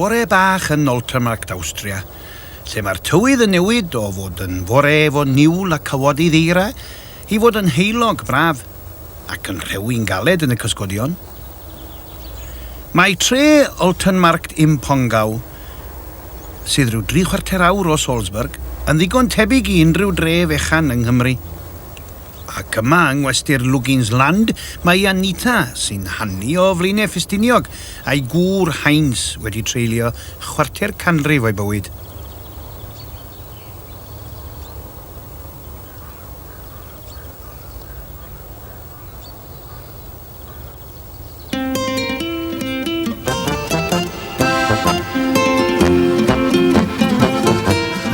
Bore bach yn Oltermarkt, Awstria, lle mae'r tywydd yn newid o fod yn fore efo niwl a cawod i ddeira i fod yn heulog braf ac yn rhewi'n galed yn y cysgodion. Mae tre Oltenmarkt im Pongau sydd rhyw dri chwarter awr o Salzburg, yn ddigon tebyg i unrhyw dre fechan yng Nghymru. Ac yma yng ngwesty'r Lugins Land mae i Anita, sy'n hanu o Flaenau Ffestiniog, a'i gŵr Heinz wedi treulio chwarter canrif o'i bywyd.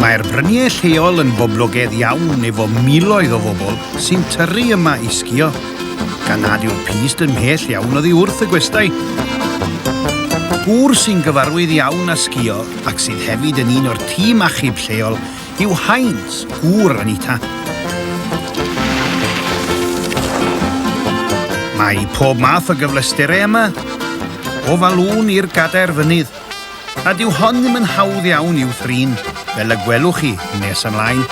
Mae'r bryniau lleol yn boblogaidd iawn efo miloedd o bobl sy'n tyrru yma i sgio, gan nad yw'r pist yn mhell iawn oddi wrth y gwestai. Gŵr sy'n gyfarwydd iawn â sgio ac sydd hefyd yn un o'r tîm achub lleol Huw Haines, gŵr Anita. Mae pob math o gyfleusterau yma, o falŵn i'r gadair fynydd, a dyw hon ddim yn hawdd iawn i'w thrin, fel y gwelwch chi nes ymlaen.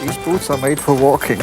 These boots are made for walking.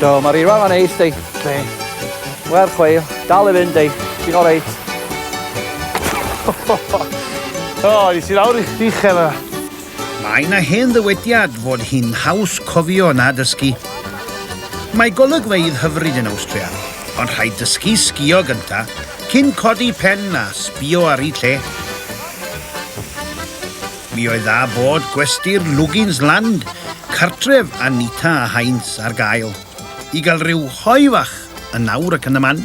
Do, mae'r eirfa yma'n neis, di. Be? Mae'r chweil. Dal i fynd, di. Ti'n o reit. o, i si lawr i uchel yna. Mae yna hen ddywediad fod hi'n haws cofio na dysgu. Mae golygfeydd hyfryd yn Awstria, ond rhaid dysgu sgio gynta, cyn codi pen a sbio ar ei lle. Mi oedd a bod gwesty'r Lugins Land, cartref Anita a Heinz, ar gael, i gael rhyw hoe fach yn awr ac yn y man.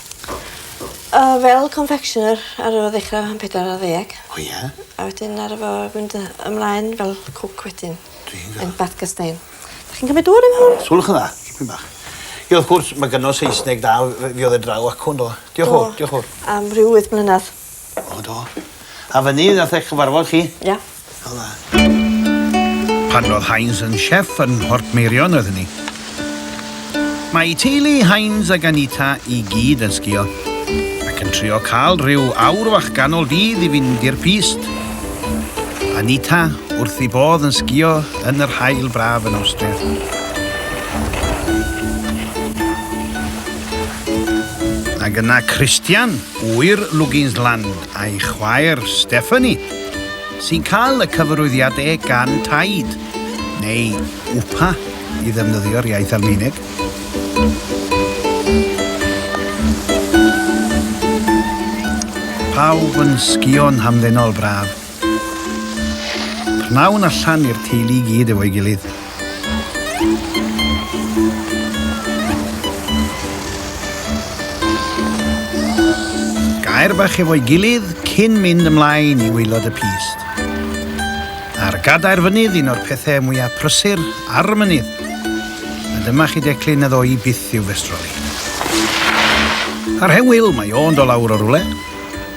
O fel confectioner ar ôl ddechra yn pedwar ar ddeg. O ie? A wedyn aru fo mynd yy ymlaen fel cwc wedyn. Dwi'n gwel'. Yn Bath Gystayn. 'Dach chi'n cymryd dŵr i mewn? Twrch yn dda. Dipyn bach. Ie wrth gwrs ma' gynno Saesneg da wy- yy fi odd e draw acw yndo? Diolch y' fowr. Diolch y' fowr. Am ryw wyth mlynadd. O do. A fynny nath e cyfarfod chi? Ia. O dda. Pan ro'dd Heinz yn chef yn Mhortmeirion oedd hynny. Mae teulu Heinz ag Anita i gyd yn sgïo, ac yn trio cael rhyw awr fach ganol dydd i fynd i'r pyst. Anita wrth ei bodd yn sgïo yn yr haul braf yn Awstria. Ag yna Christian. Ŵyr Luginsland a'i chwaer Stephanie, sy'n cael y cyfarwyddiadau gan Taid, neu Upa i ddefnyddio'r iaith Almaeneg. Pawb yn sgïo'n hamddenol braf. Pnawn allan i'r teulu i gyd efo'i gilydd. Gair bach efo'i gilydd cyn mynd ymlaen i waelod y pist. A'r gadair fynydd un o'r pethau mwyaf prysur ar y mynydd. A dyma chi declyn y ddoi byth i'w festroli. Ar hen wyl mae o'n do lawr o rwle.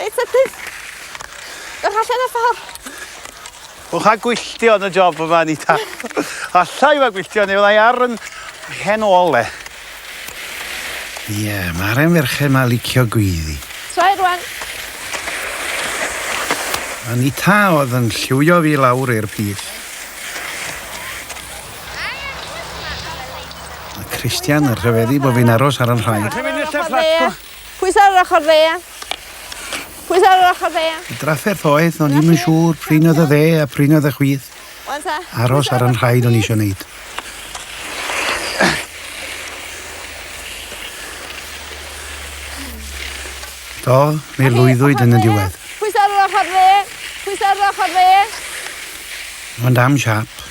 Reit, a ti? Yr allan o'r ffordd. Wel, cha gwylltio yn y job yma, Anita. Alla i fa gwylltio, neu fyddai ar yn hen ôl, le. Ie, yeah, mae'r en ferchen ma licio gwyddi. Trai rwan. Anita oedd yn lliwio fi lawr i'r pith. Mae Christian yn rhyfeddu bod fi'n aros ar yn rhaid. Dwi'n mynd i'r lle fflat Pwys ar yr ochr dde. Pwys ar yr ochr dde. Y drafferth oedd, o'n i'm yn siŵr prin oedd y dde a prin oedd y chwith. Aros ar yn rhaid o'n eisiau wneud. Do, mi lwyddwyd yn y diwedd. Pwys ar yr ochr dde. Pwys ar yr ochr dde. Ond am siap.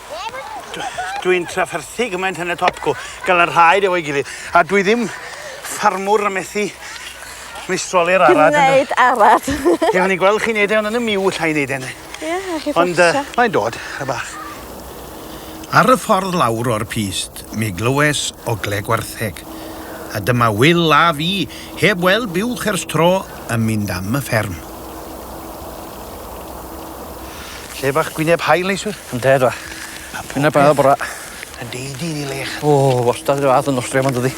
Dwi'n trafferthu gymaint yn y topco, gan y rhaid efo'i gilydd. A dwi ddim ffarmwr a methu meistroli'r arad. Dwi'n neud arad. Ie, o'n i'n gweld chi'n neud e, ond yn y miw lla i neud e. Ie, a chi Ond uh, mae'n dod, y bach. Ar y ffordd lawr o'r pist, mi glywes o gle gwartheg. A dyma Will a fi, heb weld buwch ers tro, yn mynd am y fferm. Lle bach gwyneb haul neiswyr. Yndê do. Gwyneb haul bora. Yn dy di yn i lech. O wastad ry fath yn Awstria ma'n dydi?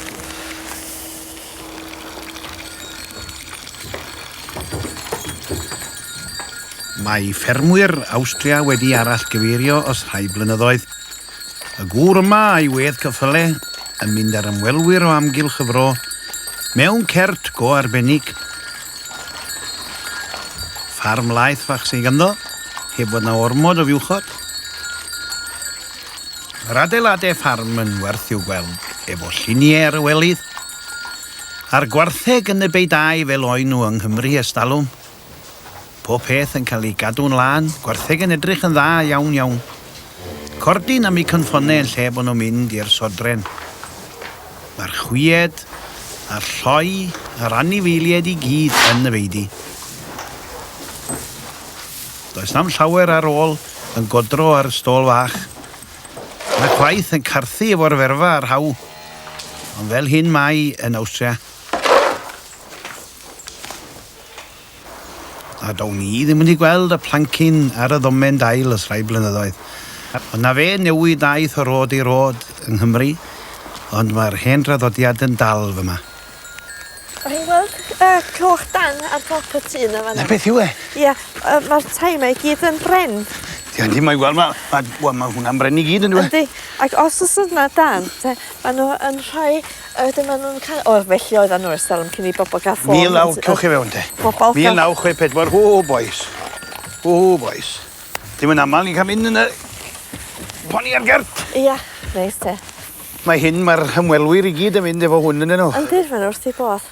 Mae ffermwyr Awstria wedi arall gyfeirio os rhai blynyddoedd. Y gŵr yma a'i wedd cyffyle yn mynd ar ymwelwyr o amgylch y fro mewn cert go arbennig Ffarm laeth fach sydd ganddo, heb fod na ormod o fuwchod. Yr adeiladau ffarm yn werth i'w gweld efo lluniau ar y welydd. A'r gwartheg yn y beidau fel oen nhw yng Nghymru ers talwm. Pob peth yn cael ei gadw'n lân, gwartheg yn edrych yn dda iawn iawn. Cordyn am eu cynffonnau yn lle bod nhw'n mynd i'r sodren. mae'r chwied a'r lloi a'r anifeiliaid i gyd yn y feidy. Does na'm llawer ar ôl yn godro ar y stôl fach. Mae chwaith yn carthu efo'r ferfa a'r haw, ond fel hyn mae yn Awstria. A down i ddim wedi gweld y plancyn ar y ddomen dail ers rhai blynyddoedd. Ond 'na fe, newid ddaeth o rôd i rôd yng Nghymru, ond mae'r hen draddodiad yn dal fyma. Dach chi'n gweld y coch dân ar dop y tŷ 'na fan 'na? 'Na beth yw e. Ia, yy ma'r tai 'ma i gyd yn bren. Ia yndi, mae wel ma' ma' wel ma' hwnna'n bren i gyd yndyw e? Yndi, ac os o's yna dân te ma' nw yn rhoi A wedyn ma' nw'n ca- o felly oeddan n'w ers dalwm cyn i bobol ga'l ffôn. Mil naw cewch chi fewn te. Bobol Mil naw chwe pedwar hŵ bois. Hŵ bois. Dim yn amal ni'n ca'l mynd yn y poni ar gert. Ia neis te. Mae hyn ma'r hymwelwyr i gyd yn mynd efo hwn ynnyn nw. Yndi ma' n'w wrth i bodd.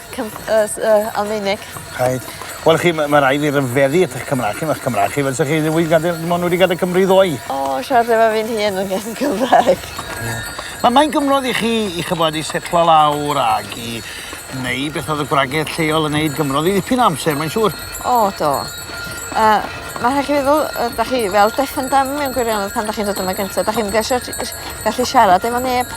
Cym- yy s- yy Almaeneg. Rhaid. Wel chi ma' ma' rai' fi ryfeddu at 'ych Cymra'ch chi ma'ch Cymra'ch chi fel sa chi ddim wedi gadel dim ond wedi gadel Cymru ddoe. O siarad efo fi'n hun yn yn Gymraeg. Ie. Ma' mae'n gymrodd i chi i ch'mbod i setlo lawr ag i neu' beth o'dd y gwragedd lleol yn neud gymrodd i ddipyn o amser mae'n siŵr. O do. Yy ma' rhai' chi feddwl yy 'dach chi fel deaf and dumb mewn gwirionedd pan dach chi'n dod yma gynta dach chi'm gallu siarad efo neb.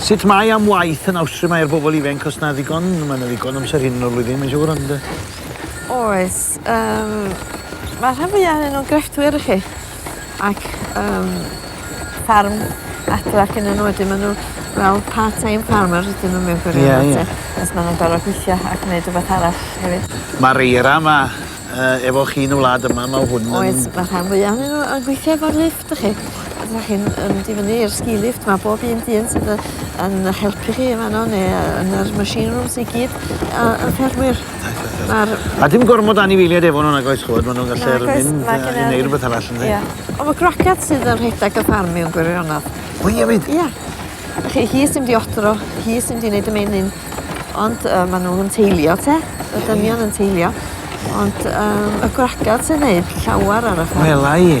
Sut mae am waith yn Awstria? Mae ar bobl ifainc os na ddigon, mae yna ddigon amser hyn o'r flwyddyn, mae'n siŵr, ond... Oes. Um, mae rhan fwyaf ohonyn nhw'n grefftwyr i chi. Ac um, ffarm adre ac yn enw wedyn maen nhw fel part-time farmer ydyn nhw mewn gwirionedd. Yeah, yeah. Os maen nhw'n gorfod gweithio ac yn gwneud rhywbeth arall hefyd. Mae'r eira yma uh, efo chi yn y wlad yma, mae hwn yn... Oes, mae rhan fwyaf ohonyn nhw yn gweithio efo'r lid. Dych chi? A dyna chi'n yn mynd i fyny i'r ski lift 'ma bob un dyn sydd yy yn yy helpu chi yn fan 'no ne' yy yn yr machine rooms i gyd yy yn ffermwyr. Reit reit reit. Ma'r... A dim gormod o anifeiliaid efo n'w nag oes ch'mod ma' n'w'n gallu ar y mynd yy i neu' rwbeth arall yndi? Ia. On' ma' gwracod sydd yn rhedag y ffarm mewn gwirionedd. O ie wir? Ia. Wch chi hi sy mynd i odro hi sy mynd i neud y menyn ond yy ma' n'w yn teilio te. Ie ie. Y dynion yn teilio. Ie ie. Ond yym y gwragod sy'n neud llawar ar y ffarm. Wela i.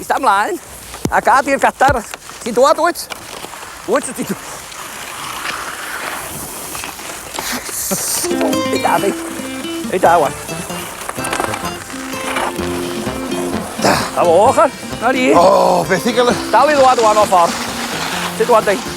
Ista mlaen, a gad i'r gadar... Ti'n dwad, wyt? Wyt, ti'n dwad? Ei da, ei. Ei da, wan. Da. Da fo, ochr. Na ni. O, oh, beth i gael... Dal i ddwad, wan, o ffordd. Ti'n dwad, ei.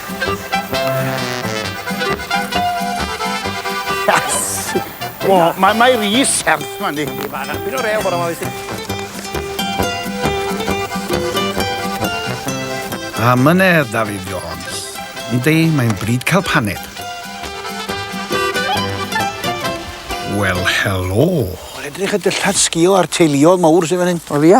Wel, mae mae rhi serth ma ni. Ni fan apyn o rew bora ma wyt ti. A mynedd David Jones. Yndi, mae'n bryd cael paned. Wel, helo. Mae'n edrych y dillad sgil a'r teuluodd mawr sy'n fan hyn. O, ia?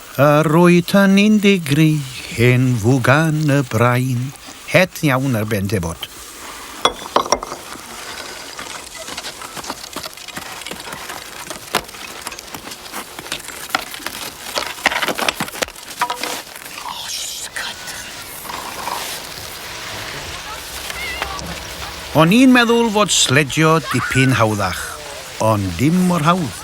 A roeddan ni'n digri hen fwgan y brain. Het iawn ar ben tebot. O'n i'n meddwl fod sledgio dipyn hawddach, ond dim mor hawdd.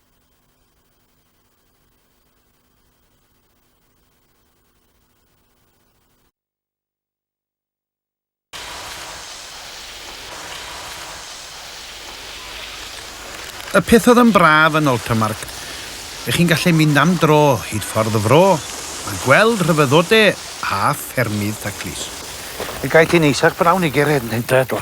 Y peth oedd yn braf yn Oltermark, ych chi'n gallu mynd am dro hyd ffordd y fro a gweld rhyfeddodau a ffermydd taclus. Y gae ti'n eisiau brawn i gered yn hynta eto.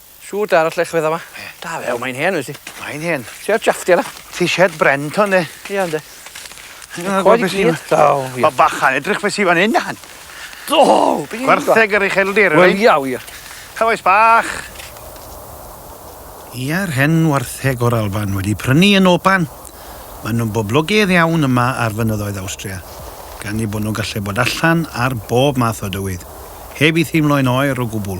Shwt arall le chwedda ma? Ie. Da fe, mae'n hen wyt ti? Mae'n hen. Ti ar jaffti ala? Ti shed bren to ne? Ia ynde. Coed i gyd. Daw. Mae bachan edrych beth sy'n fan hyn dan. Do! Gwartheg yr ucheldir. Wel ia wir. Cawais bach. Ia'r hen wartheg o'r Alban wedi prynu yn Oban. Maen nhw'n boblogaidd iawn yma ar fynyddoedd Awstria, gan eu bod nhw'n gallu bod allan ar bob math o dywydd, heb i theimlo'n oer o gwbl.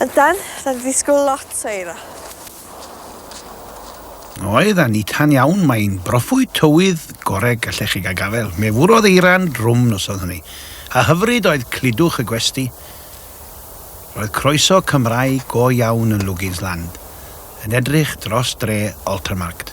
Ond dan, dan ddisgwyl lot o eira. Oedd a nitan iawn, mae'n broffwyd tywydd goreg gallech chi gael gafael. Me fwrodd eira'n drwm noson hynny, a hyfryd oedd cludwch y gwesti. Roedd croeso Cymraeg go iawn yn Lugins Land, yn edrych dros dre Altermarkt.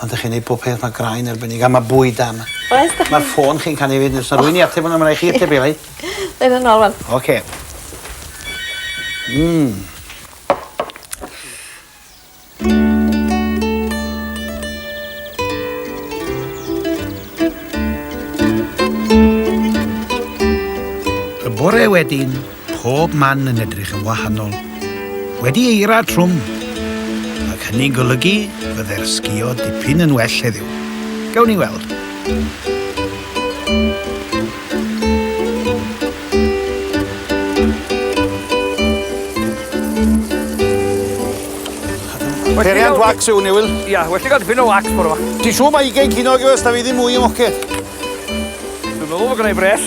Ond 'dych chi'n neud pob peth ma' graen arbennig a ma' bwyd da 'ma. Oes 'dych chi... Ma'r ffôn chi'n canu 'fyd os 'na rwyn i ateb wnna ma' rai' chi ateb 'i rei. Neud e nôl rŵan. Oce. Hmm. Y bore wedyn pob man yn edrych yn wahanol, wedi eira trwm, ac hynny'n golygu bydde'r sgïo dipyn yn well heddiw. Gawn ni weld. Periant wax yw ni, Wil? Ia, well i gael dipyn o wax bore yma. Ti'n siŵr mae ugain cinog yw ys da fi ddim mwy ymoced? Dwi'n meddwl bod gennau bres.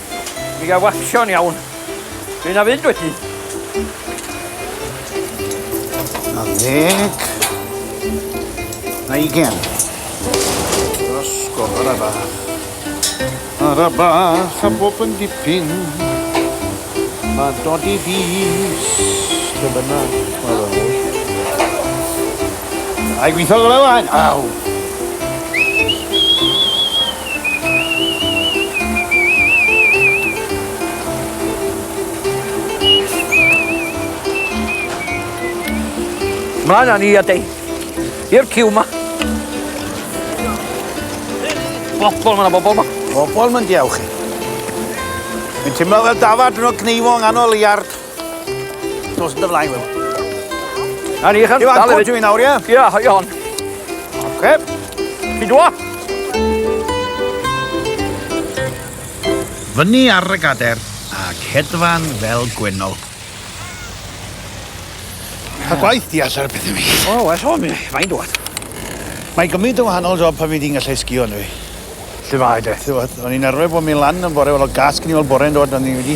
Mi ga wacsio'n iawn. Dwi'n a fynd wedyn. A ddeg. A ugen. Ysgol ar y bach. Ar y bach a bob yn dipyn. Mae dod i fus. Dyna. Ai gweithio gyda fain? Aw! Mlaen â ni a dei. I'r ciw ma. Bobl, mae yna bobl ma. Bobl, mae'n diawch chi. Fi'n teimlo fel dafad yn o gneifo yng nghanol iard. Dos yn dy flaen, Wil. Na ni, chan. Iwan, cwrt dwi'n nawr, ie? Ie, hoi on. Oce. Fi dwa. Fyny ar y gader ac hedfan fel gwenol. A gwaith di allan y pethau mi. O, well o, mi, mae'n dwad. Mae gymryd yn wahanol job pan fi di'n gallu sgio yn fi. Lle mae de? O'n i'n arfer bod mi lan yn bore, fel o gas gen i fel bore yn dod, o'n i wedi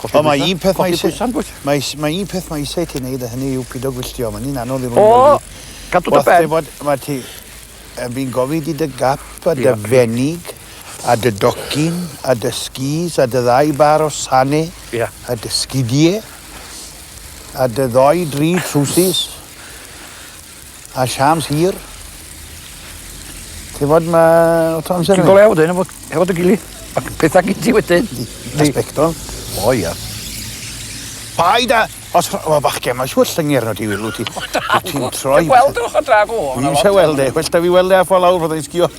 Colli Ond mae un peth mae eisiau... Mae, mae un peth mae eisiau ti wneud a hynny yw pido gwylltio. Mae'n un anodd i rwy'n O, cadw dy ben. Bod, mae ti... Fi'n gofid i dy gap a dy fenig a dy docyn a dy skis a dy ddau bar o sane yeah. a dy sgidie a dy ddoi dri trwsus. A siâms hir. Ti'n fod ma... Ti'n golew wedyn efo, efo dy gili. Ac pethau gyd ti wedyn. Respectol. O ia. Paid a... Os o bachgen, mae siwr llyngyr nhw ti wilw ti. Ti'n troi... Ti'n gweld o'ch o drag o? Dwi'n eisiau weld e. Well da fi weld e a ffa lawr fod e'n sgio.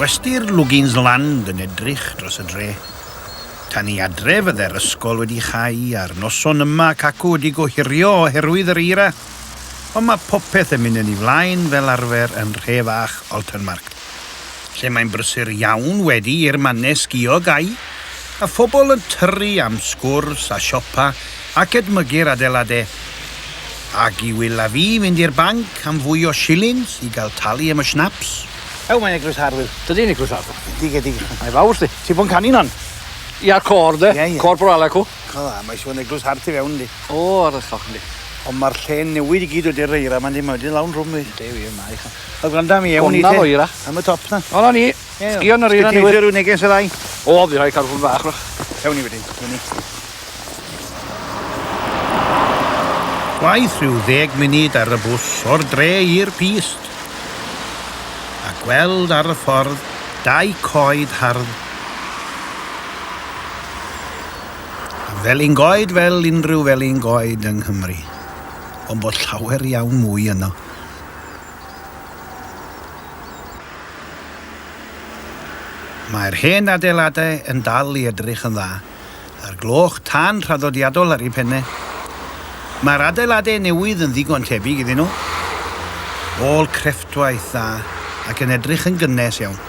Gwesty'r Lugins Land yn edrych dros y dre. Tan i adre fydde'r ysgol wedi chau a'r noson yma cacw wedi gohirio oherwydd yr eira. Ond mae popeth yn mynd yn ei flaen fel arfer yn nhre fach Altenmarkt, lle mae'n brysur iawn wedi i'r mannau sgïo gau, a phobl yn tyrru am sgwrs a siopa ac edmygu'r adeiladau. Ac i Wil a fi fynd i'r banc am fwy o shillings i gael talu am y schnapps. Ew, mae'n eglwys hard, Wil. Dydy, yn eglwys hard. Dige, dige. Mae fawr, 'sti. Ti 'di bod yn canu 'na'n? Ia, côr, 'de. Ie, ie. Côr Borale ac 'w. Diolch yn fawr, mae eisiau bod yn eglwys hardd tu fewn yndi? O, arallol, yndi. Ond mae'r lle'n newid i gyd wedi'r eira yma yndi, mae wedi lawn drwm yndi? Yndi wir, mae. Wel gwranda mi, ewn ni te. Gwranda fo eira. Am y top na. O, na ni. Sgio yn yr eira ni. Sgio rhyw neges y ddau. O, fi rhaid cael hwn fach rwch. Ewn ni wedyn, ewn ni. Gwaith rhyw ddeg munud ar y bws o'r dre i'r pist. A gweld ar y ffordd dau coed hardd Felin goed fel unrhyw felin goed yng Nghymru, ond bod llawer iawn mwy yno. Mae'r hen adeiladau yn dal i edrych yn dda, a'r gloch tân traddodiadol ar ei phenne. Mae'r adeiladau newydd yn ddigon tebyg iddyn nhw, ôl crefftwaith dda ac yn edrych yn gynnes iawn.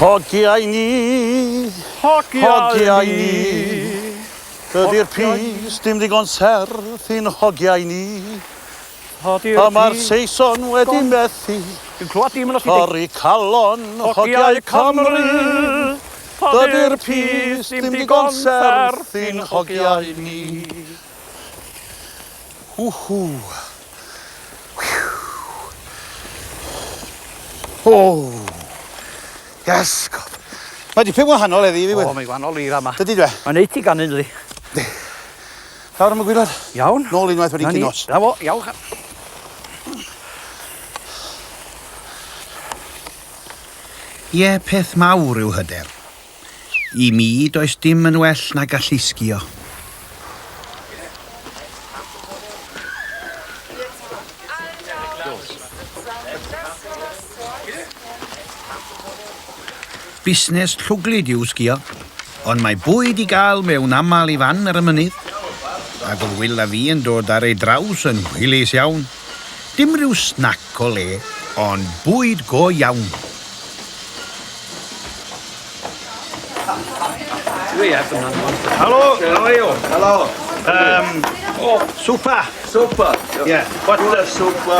Hogiau ni, hogiau ni, dydy'r pys dim ddigon serth i'n hogiau ni. Hodi'r mae'r Saeson wedi methu. Dwi'n clywed dim yn os Torri calon hogiau Cymru. Dydy'r pys ddim digon serth i'n hogiau ni. Whw. O! Yes, God. Mae dipyn wahanol eddi i fi. O, mae wahanol i rama. Dydy dwe? Mae'n neud ti ganu'n dydi? Di. Lawr am y gwylod. Iawn. Nôl unwaith wedi cyn nos. Na fo, iawch. Ie, peth mawr yw hyder. I mi, does dim yn well na gallu sgio. Busnes llwglyd yw sgïo, ond mae bwyd i gael mewn aml i fan ar y mynydd, ac oedd Wil a fi yn dod ar ei draws yn hwylus iawn. Dim rhyw snac o le, ond bwyd go iawn. Helo, how are you? Helo. Um, oh, super. Super. Yeah. What's the super?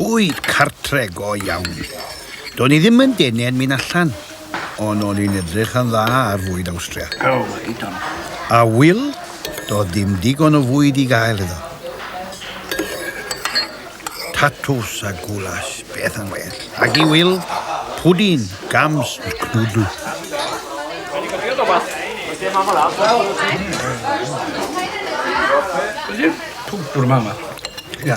Bwyd cartre go iawn. Do'n i ddim yn denen mynd allan, ond o'n i'n edrych yn dda ar fwyd Awstria. O, hyd on. A Wil, do'dd ddim digon o fwyd i gael iddo. Tatws a gwlas, beth yn well. Ac i Wil, pwdin, gams a cnwdl. Wedi gofio rhywbeth? Wedi mam a dad? Pwdin? Twdwr mam a... Ia.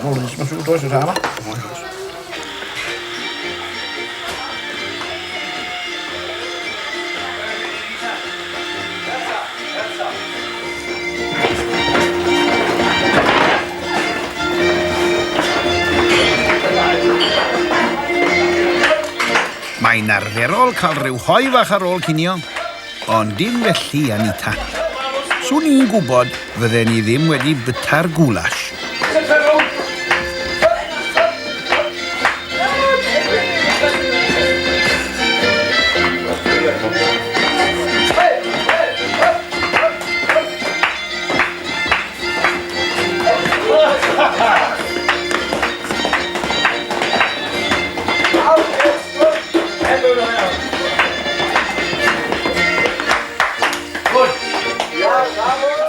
Wel, mae'n siŵr does yn rhan yma. Mae'n arferol cael rhyw hoe fach ar ôl cinio. Ond dim felly, Anita. Swn i'n gwybod fydden i ddim wedi byta'r goulash.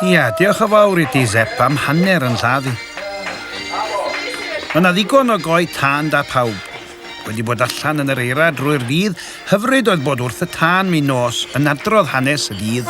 Ia, diolch o fawr i ti, Zep, am hanner yn lladd i. Mae yna ddigon o goi tân da pawb. Wedi bod allan yn yr eira drwy'r dydd, hyfryd oedd bod wrth y tân mi nos yn adrodd hanes y dydd.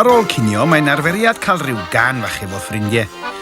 Ar ôl cinio, mae'n arferiad cael rhyw gan fach efo ffrindiau.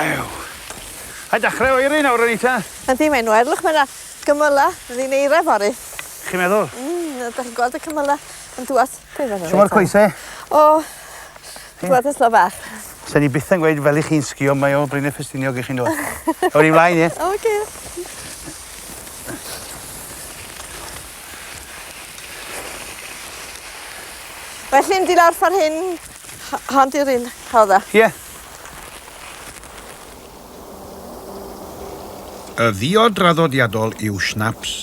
Ew! A dachre oeri nawr rwan eita? Yndi mae'n oer. Look ma' 'na gymyla yn eira fory. Chi meddwl? Mm a 'dach chi'n gweld y cymyla yn dŵad? Shwma'r coese? O! Ti'n gweld y slo bach? Sen i byth yn gweud fel i chi'n sgio mae o Bryn y Ffestiniog i chi yndoe? Awn ni mlaen ie? Oce. Felly mynd i lawr ffor hyn ho- hon di'r un rhodda? Ie. Y ddio draddodiadol yw schnapps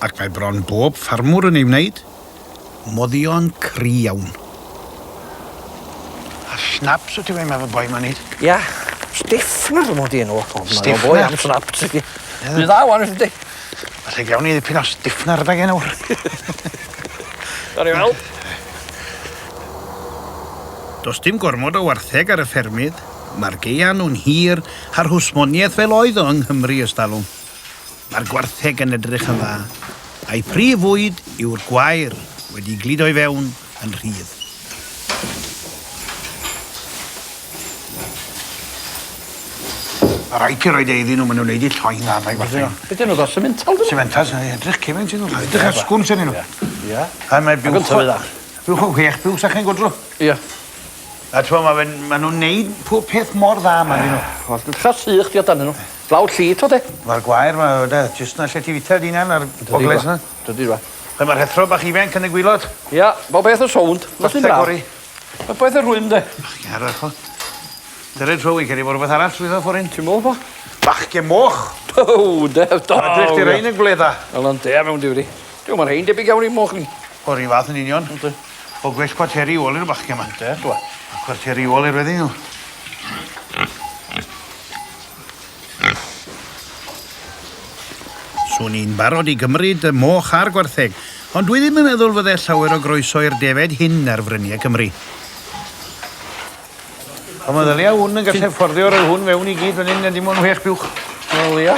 ac mae bron bob ffarmwr yn ei wneud. Moddion cry iawn. A schnapps wt ti weud mae fy boi ma'n neud? Ia. Stiffler mod i enw o. Stiffler? Boi am schnapps i fi. Dwi dda wan wt ti. Falle gawn ni ddipyn o stiffler adeg 'yn nawr. Gawn ni weld. Does dim gormod o wartheg ar y ffermydd, mae'r gaeaf nhw'n hir a'r hwsmoniaeth fel oedd o yng Nghymru ers talwm. Mae'r gwartheg yn edrych yn dda, a'i phrif fwyd yw'r gwair wedi'i gludo i fewn yn rhydd. Mae rhaid ti roi de iddyn nhw, maen nhw'n neud i lloi dda, mae gwartheg. Be dyn nhw, ddo semental? Semental, edrych cefn sy'n edrych cefn sy'n nhw, edrych ar sgwns yn nhw. Ie. Ie. A mae byw... Ac yn tyfu dda. Rhowch y whech byw sa chi'n gwdl. Ia. A t'mo' ma' fe'n ma' nw'n neud pob peth mor dda 'ma ynddyn nw. Wel dwi'n itha sych fi amdanyn nw. Blawd lli t'od e? Ma'r gwair 'ma yy de jyst 'na lle ti fita dy unan a'r bogles 'na. Dydi fe. Lle ma'r hethro bach ifenc yn y gwilod? Ia, bob peth yn sownd. Categori. Popeth yn rwym 'de? Bachgen arall t'mo'? Dyred Joe fi'n credu bo' rwbeth arall llwyddo ffor 'yn. Ti me'wl bo? Bachgen moch! Pow! Dew da! Edrych 'di rein yn gwledda. Wel yndi a mewn diwri. Duw ma' rhein debyg iawn i moch ni. O, 'r un fath yn union. Yndi. O gwell cwarteri i ôl i'r bachgen 'ma. Yndi, do. A cwarteri i ôl i'r weddi'n nhw. Swn i'n barod i gymryd y moch a'r gwartheg, ond dwi ddim yn meddwl fydde llawer o groeso i'r defed hyn ar fryniau Cymru. O, mae ddylia hwn yn gallu fforddio rhoi hwn fewn i gyd fan hyn, a dim ond whech buwch. Wel, ia.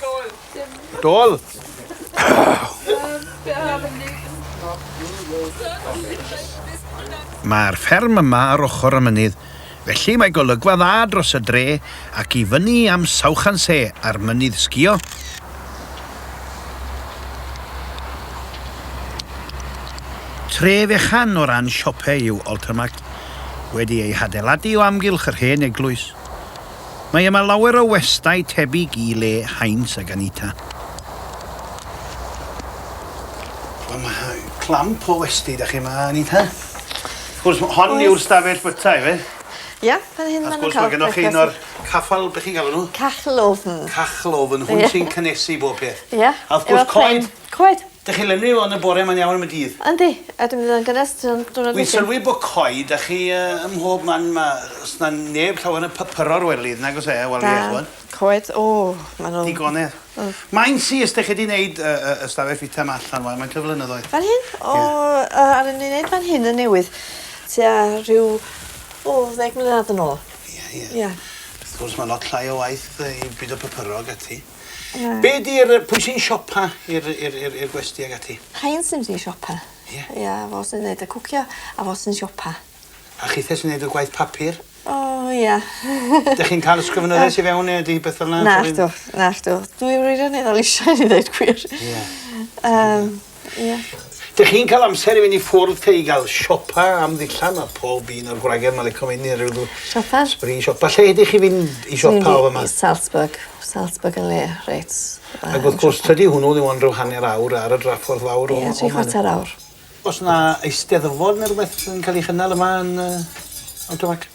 Dol. Dol. Mae'r fferm yma ar ochr y mynydd, felly mae golygfa dda dros y dre ac i fyny am Sawchanse a'r mynydd sgio. Tre fechan o ran siopau yw Altamart, wedi ei hadeiladu o amgylch yr hen eglwys. Mae yma lawer o westai tebyg i le Heinz ag Anita. Wel, mae clamp o westi da chi yma, Anita. Wrth gwrs, hon yw'r stafell byta, ife? Ia, fan hyn maen nhw'n cael brecwast. Wrth gwrs, mae gennych chi un o'r caffal, beth chi'n galw nhw? Cachlofn. Cachlofn, hwn sy'n cynnesu bob peth. Ia, efo pren. Coed. Dych chi lenwi o yn y bore mae'n iawn am y dydd. Yndi, a dwi'n mynd i fod yn gynnes tan diwrnod wedyn. Wi'n sylwi bo coed a chi yy ym mhob man ma' os na neb llawer yn papyro'r wely nag os e wel ie ch'mod. Na, coed o ma' nw'n... Digonedd. Mm. Mae'n syth dych chi di neud yy yy y stafell fita ma allan wan faint o flynyddoedd? Fan hyn? O yy aru ni neud fan hyn yn newydd tua rhyw o ddeg mlynadd yn ôl. Ie ie. Ie. Wrth gwrs ma' lot llai o waith yy i bido papuro ag ati. Na. Be' 'di'r yy pwy sy'n siopa i'r i'r i'r i'r gwesty ag ati? Rhein sy'n mynd i siopa. Ie? Ia fo sy'n neud y cwcio a fo sy'n siopa. A chithe sy'n neud y gwaith papur? O ia. 'Dych chi'n ca'l ysgrifenyddiaeth i fewn ne' ydi beth fel 'na? Nacdw nacdw. Dwi wirioneddol isio i ddeud gwir. Ie. Yym. Ie. Dych chi'n ca'l amser i fyn' i ffwrdd te i ga'l siopa am ddillad ma' pob un o'r gwragedd 'ma lico mynd i ryw dw-... Siopa? ...sbri siopa lle ydych chi fynd i siopa o fyma? Salzburg. Salzburg yn le reit dda... Ag wrth gwrs tydi hwnnw ddim ond ryw hanner awr ar y draffordd fawr o o man. Ie tri chwarter awr. O's 'na Eisteddfod ne' rwbeth yn ca'l 'i chynnal yma yn yy Alton Mac?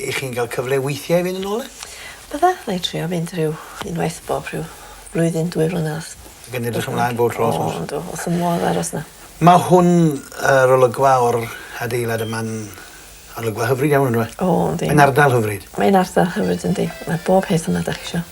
Y'ch chi'n cael cyfle weithiau i fynd yn ôl 'na? Bydda, na i trio mynd rhyw unwaith bob rhyw flwyddyn, dwy flynadd. Ac yn edrych ymlaen bob tro wrth gwrs. O yndw, wrth fy modd aros 'na. Ma' hwn yr olygfa o'r adeilad yma'n olygfa hyfryd iawn on'd yw e? O yndi. Mae'n ardal hyfryd. Mae'n ardal hyfryd yndi. Mae bob peth yma 'dach chi isio.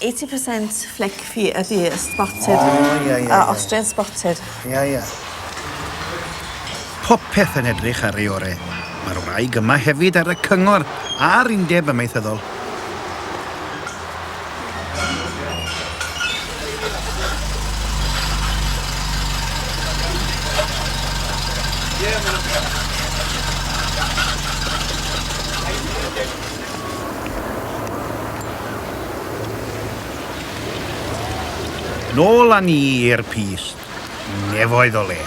Eighty percent flick fi ydi y spotted. O, ie, ie, ie. A Austrian spotted. Ie, ie. Popeth yn edrych ar ei ore. Mae'r wraig yma hefyd ar y cyngor a'r undeb amaethyddol. Nôl â ni i'r pys nefoedd o le.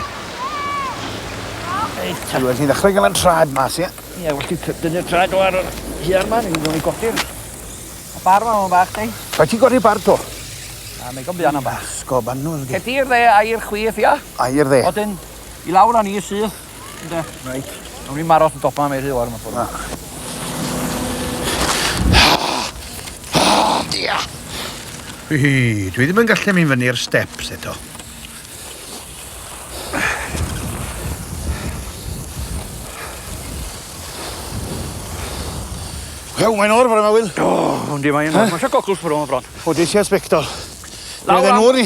Reit ta. Ti'n ddechrau gael yn trad mas, ie? Ie, well ti dynnu'r trad o ar yr hiar ma, ni'n mynd i godi'r... Y bar ma, o'n bach, di? Rhaid ti godi'r bar to. A mae gofio anna bach. Sgob anwr, di. Cedi'r dde, air chwith, ia? Air dde. Odyn, i lawr â ni syth. Ynde? Reit. Nawn ni'm aros yn dopan am ei rhy lawr mewn ffor. Na. Ia! Hi, dwi ddim yn gallu mynd fyny'r steps eto. Ew, mae'n o'r fawr yma, Wil. O, yndi, mae'n o'r. Mae eisiau gogl ffwrw yma bron. O, di eisiau sbectol. Lawr am... Oedden nhw'n i.